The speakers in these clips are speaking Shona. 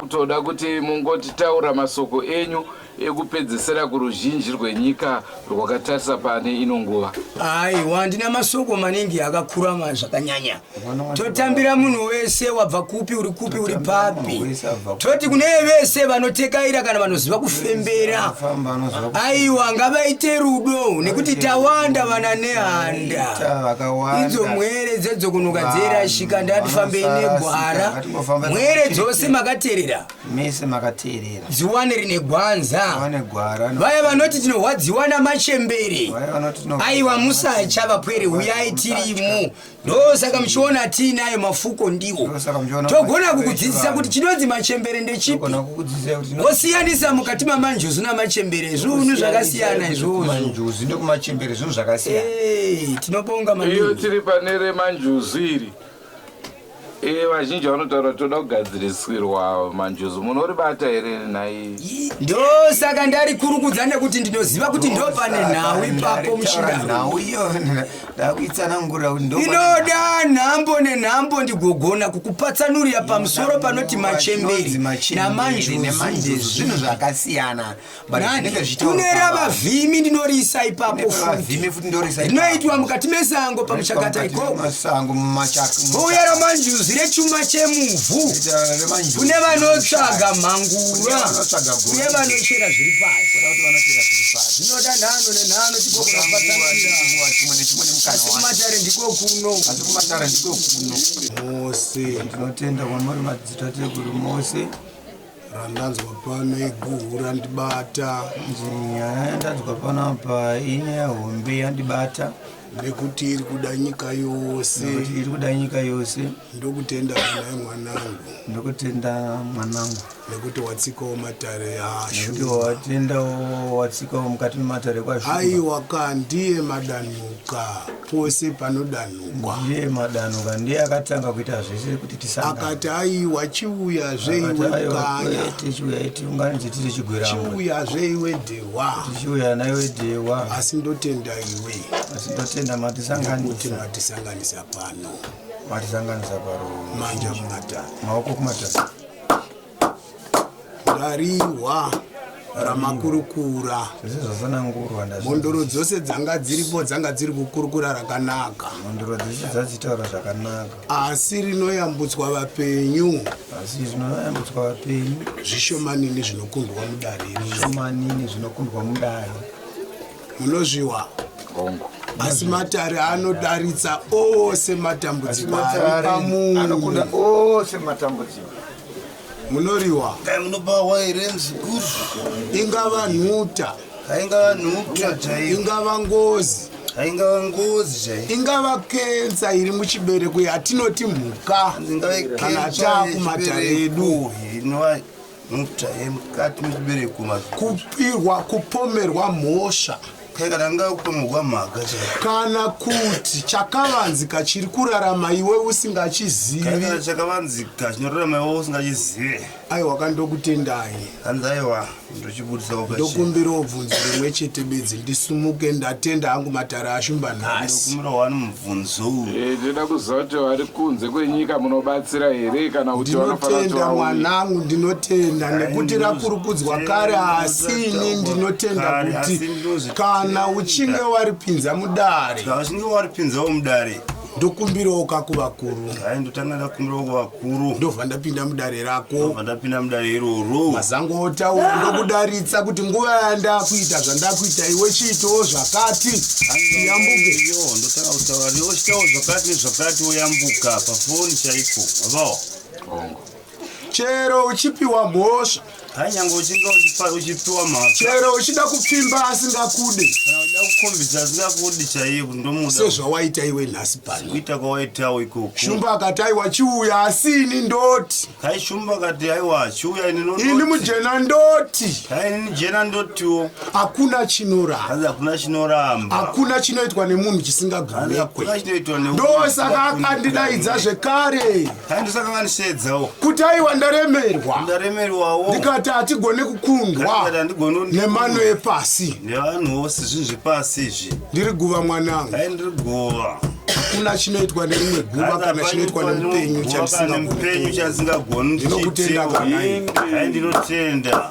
kutoda kuti mungotitaura masoko enyu ekupedzesera kuruzhinji rwenyika rwakatarisa pane ino nguva aiwa ndina masoko maningi akakurama zvakanyanya totambira munhu wese wabva kupi uri kupi uri papi toti kune vese vanotekaira kana vanoziva kufembera aiwa ngavaite rudo nekuti tawanda vana nehana idzo mwere dzedzokunuka dzeirashika ndatifambe negwara mwere dzose makateerera mese makateerera dziwane rine gwanza vaya vanoti tinorwadziwa namachembere aiwa musacha vapwere uyai tirimo ndosaka muchiona tiinayo mafuko ndiwo togona kukudzidzisa kuti chinonzi machembere ndechipi Tinosiyanisa mukati mamanjuzu namachembere zviunu zvakasiyana izvozvo. Manjuzu nekumachembere zviunu zvakasiyana. Hey, tinobonga maningi. Iyo tiri pane remanjuzu iri. Eh, vazhinji vanotaura toda kugadzirisirwa manjuzu munoribata here nhai ndosaka ndari kurukudza nekuti ndinoziva kuti ndopane nhau ipapo muchinda nhau iyo ndakuitsanangura ndinoda nhambo nenhambo ndigogona kukupatsanurira pamusoro panoti machemberi namanjuzvinhu zvakasiyana kune ravavhimi ndinoriisa ipapo futinoitwa mukati mesango pamuchakata ikokouya ramanjuzi rechuma chemuvhu kune vanotsvaga mhangura uye vanochera zviri pasi zvinoda nhano nenhano ndinotenda kwamuri madzitateguru mose randanzwa pano iguhu randibata ndanzwa pano apa inyaya hombe yandibata nekuti iri kuda nyika yose iri kuda nyika yose ndokutenda mwanangu ndokutenda mwanangu nekuti watsikawo matare ashumawatendawowatsikao mukati mematare kwashu aiwa ka ndiye madanuka pose panodanukwa ndiye madanuka ndiye akatanga kuita zvese kuti tisaakati aiwa chiuya zveiwekanyatichiuya itiunganidze tiri chigwerachiuya zveiwe dhewa tichiuya naiwe dhewa asi ndotenda iwe asi ndotenda matisanganisa matisanganisa pano matisanganisa paro manja kumatare maoko kumatare rarihwa ramakurukura mhondoro dzose dzanga dziripo dzanga dziri kukurukura rakanaka mhondoro dzese dzadzitaura zvakanaka asi rinoyambutswa vapenyu asi zvinoyambutswa vapenyu zvishomanini zvinokundwa mudare zvishomanini zvinokundwa mudare munozviwa hongu asi matare anodaritsa ose matambudziko ari pamunhu anokuda ose matambudziko munoriwa dai munobawa here mzukuru ingava nhuta haingava nhuta chaiyo ingava ngozi haingava ngozi chaiyo ingava kensa iri muchibereko yatinoti mhuka kana taakumatare edu inova mota yemukati mechibereko kupirwa kupomerwa mhosva kana kuti chakavanzika chiri kurarama iwe usingachiziviaiwa kandokutendai ndokumbira obvunzo rimwe chete bedzi ndisumuke ndatenda hangu matare ashumba nhasi Bvunzou. Eh, ndinoda kuziva kuti vari kunze kwenyika munobatsira here kana kuti ndinotenda mwanangu ndinotenda nekuti rakurukudzwa kare asi ini ndinotenda kuti kana uchinge waripinza mudare ndokumbirawo kakuvakuru kuru ndobva ndapinda mudare rako ndapinda mudare iroro mazango otaura ndokudaritsa kuti nguva yandakuita zvandakuita iwe chiitawo zvakati yambuke yo ndotanga kutaura newe chitawo zvakati nezvakati woyambuka pafoni chaipo vavawo hongo chero uchipiwa mhosva Hai nyangwe uchinge uchipa- uchipiwa mhaka chero uchida kupfimba asingakude kana uchida kukhombidza asingakudi chaiye kuti ndomuda sezvawaita iwe nhasi pano kuita kwawaitawo ikoko shumba akati aiwa chiuya asi ini ndoti kai shumba kati haiwa chiuya ini ndoti ini mujena ndoti kai ini jena ndotiwo hakuna chinoramba hanzi hakuna chinoramba hakuna chinoitwa nemunhu hanzi chisingagumekwe hakuna chinoitwa ne ndosaka akandidaidza zvekare handisaka vanisheedzawo kuti aiwa ndaremerwa ndaremerwawo ndikati hatigone kukundwa nemano epasi nevanhu vose zvinhu zvepasi izvi ndiri guva mwanangu ai ndiri guva hakuna chinoitwa nerimwe guva kana chinoitwa nemupenyu chamupenyu chasingagoni ndinokutenda kwanai ai ndinotenda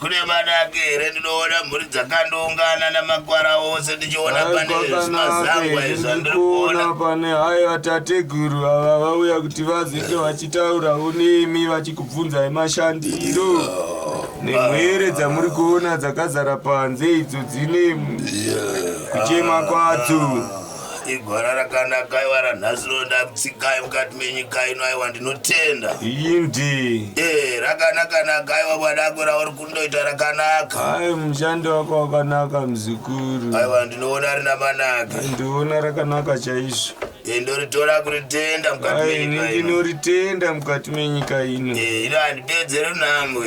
kune manake here ndinoona mhuri dzakandoungana namakwara ose ndichiona pane zvimazangwa izvi andiri kuona pane hayo vatateguru ava vauya kuti vazenge vachitaurawo nemi vachikubvunzai mashandiro oh, nemwere dzamuri kuona dzakazara panze idzo dzine kuchema kwadzo igwara rakanaka aiwa ranhasi rondakutsikai mukati menyika ino aiwa ndinotenda indi e rakanakanaka aiwa bwadako rauri kundoita rakanaka ai mushandi wako wakanaka muzukuru aiwa ndinoona rina manaka ndiona rakanaka chaizvo e ndoritora kuritenda mukati ndinoritenda mukati menyika ino e ino handipedzere nhambwe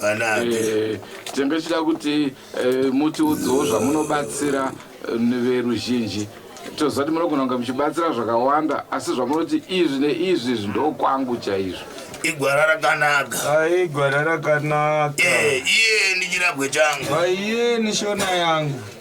Vanake. Eh, tinenge tichida kuti eh, mutiudzewo zvamunobatsira eh, neveruzhinji toziva kuti munogona kunge muchibatsira zvakawanda asi zvamunoti izvi neizvi izvi ndokwangu chaizvo igwara rakanaka Aye gwara rakanaka. Eh, iye ndichirabwe changu Aye nishona yangu.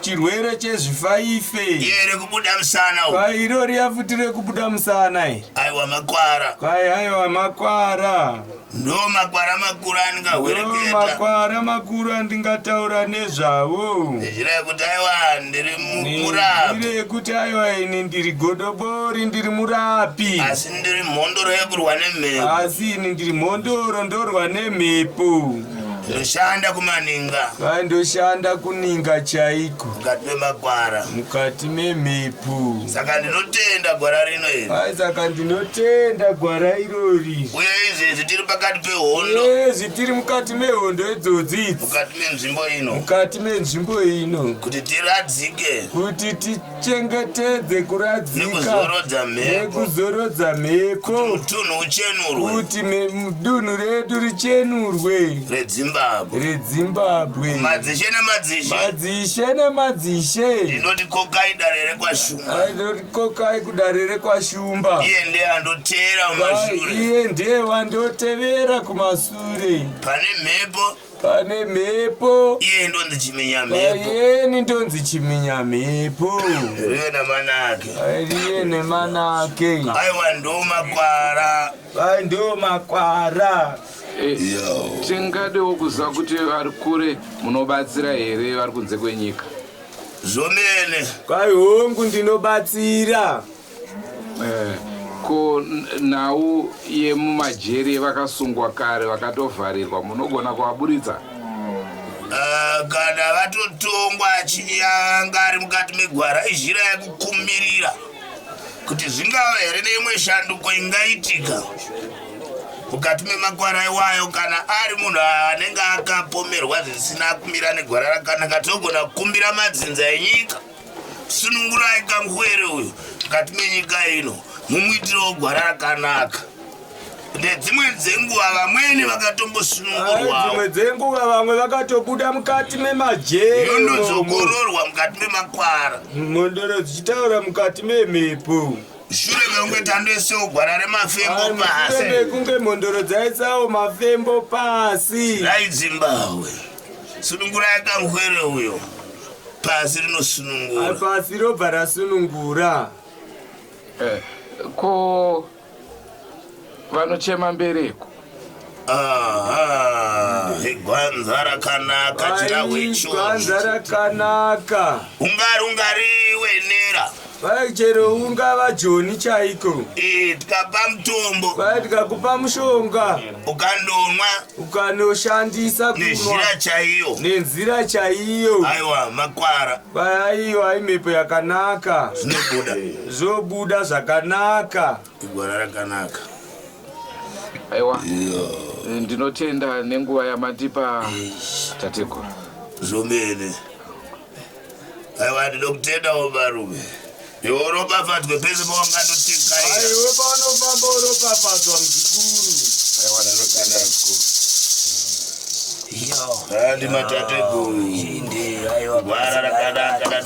chirwere chezvifaife iye rekubuda musana kwai iro riya futi rekubuda musana i aiwa makwara kwai aiwa makwara ndo makwara makuru andingahwereketa makwara makuru andingataura nezvavo nenzira yekuti aiwa ndiri murapi yekuti aiwa ini ndiri godobori ndiri murapi asi ndiri mhondoro yekurwa nemhepo asi ini ndiri mhondoro ndorwa nemhepo ndoshanda kumaninga Kwai ndoshanda kuninga chaiko mukati memagwara mukati memhepo. saka ndinotenda gwara rino iri Kwai saka ndinotenda gwara irori. uye izvezvi tiri pakati pehondo Yezvi tiri mukati mehondo idzodzi idzi. mukati menzvimbo ino Mukati menzvimbo ino. kuti tiradzike Kuti ti chengetedze kuradzika nekuzorodza mhepo kuti dunhu redu richenurwe redzimbabwe madzishe nemadzishe ndinoti kokai kudare rekwashumba iye ndiye andotevera kumasure pane mhepo pane mhepo iye ndonzi chiminya mhepo payeni ndonzi chiminya mhepo riye namanake riye nemanake aiwa ndo makwara vai ndo makwara Yo. tingadewo kuziva kuti vari kure munobatsira here vari kunze kwenyika zvomene kwai hongu ndinobatsira Eh, ko nhau yemumajeri yevakasungwa kare vakatovharirwa munogona kuvaburitsa Ah, kana vatotongwa achinge anga ari mukati megwara izhira yekukumirira kuti zvingava here neimwe shanduko ingaitika mukati memakwara iwayo kana ari munhu anenge akapomerwa zvisina kumira negwara rakanaka tinogona kukumbira madzinza enyika sunungurai kangwere uyu mukati menyika ino mumuitirawo gwara rakanaka nedzimwe dzenguva vamweni vakatombosunungurwadzimwe ah, dzenguva vamwe vakatobuda mukati memajeeondozokororwa mukati memakwara mhondoro dzichitaura mukati memhepo shure mekunge tandoisawo gwara remafembo ah, pasi mekunge mhondoro dzaisawo mafembo pasi dai dzimbahwe Sunungurai kamhwere uyo. Pasi rinosunungura. Pasi robva rasunungura. Eh, ko vanochema mbereko. Aha, igwanza rakanaka chirahwe chose. Igwanza rakanaka. Ungari ungari wenera. Kwai chero ungava joni chaiko Eh, tikapa mutombo kwai tikakupa mushonga ukandomwa ukanoshandisa kunwa nezhira chaiyo nenzira chaiyo aiwa makwara kwai aiwa imhepo yakanaka zvinobuda zvobuda zvakanaka igwara rakanaka aiwa Eh, ndinotenda nenguva yamandipa tateguru zvomene aiwa ndinokutendawo varume iwe uropafadzwe pese pawanganotikaaiwe paunofamba uropafadzwa mzukuru aiwa ndinotenda mzukuru ndimatateguru gwara rakanaka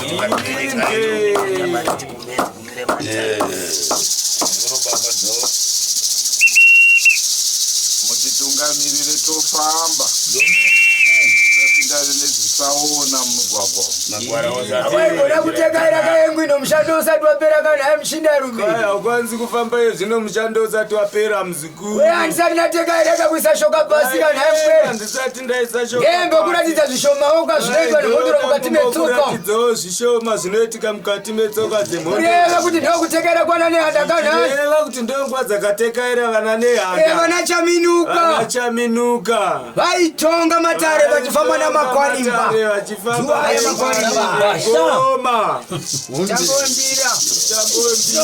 mutitungamirire tofamba tasingane nedzisaona mumugwagwa Hawaigona kutekaira kayengu ino mushando usati wapera kana ayi mushindarume. Kaya ukwanisi kufamba iyo zvino mushando usati wapera mzi weandisati ndatenga irega kuisa shoka pasi kana haimwembokuratidza zvishomaoko azvinoitwa nemhondoro mukati metsokaizvishoma zvinoitika mukati metsoka dzemhondoreva kuti ndokutekaira kwana nehanda kanaeva kuti ndonguva dzakatekaira vana nehandaevana chaminuka chaminuka vaitonga matare vachifamba namakwarimba vachifambaoma chambondira chambondira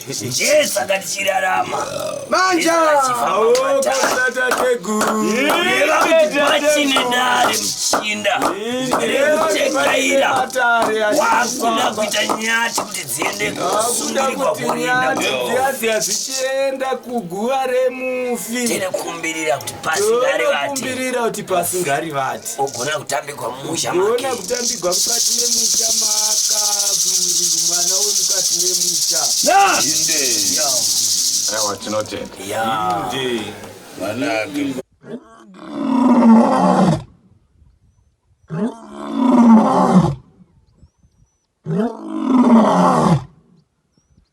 ndiye saka tichirarama manja vachine dare muchinda rekutekaira wakuda kuita nyati kuti dziende kusundirikwa kurindadzichienda kuguva remufi tinokumbirira kuti pasingari vati ogona kutambigwa mumusha ogona kutambigwa mukati memusha maakaburi mwana wemukati memusha ewa tinotenda Yeah.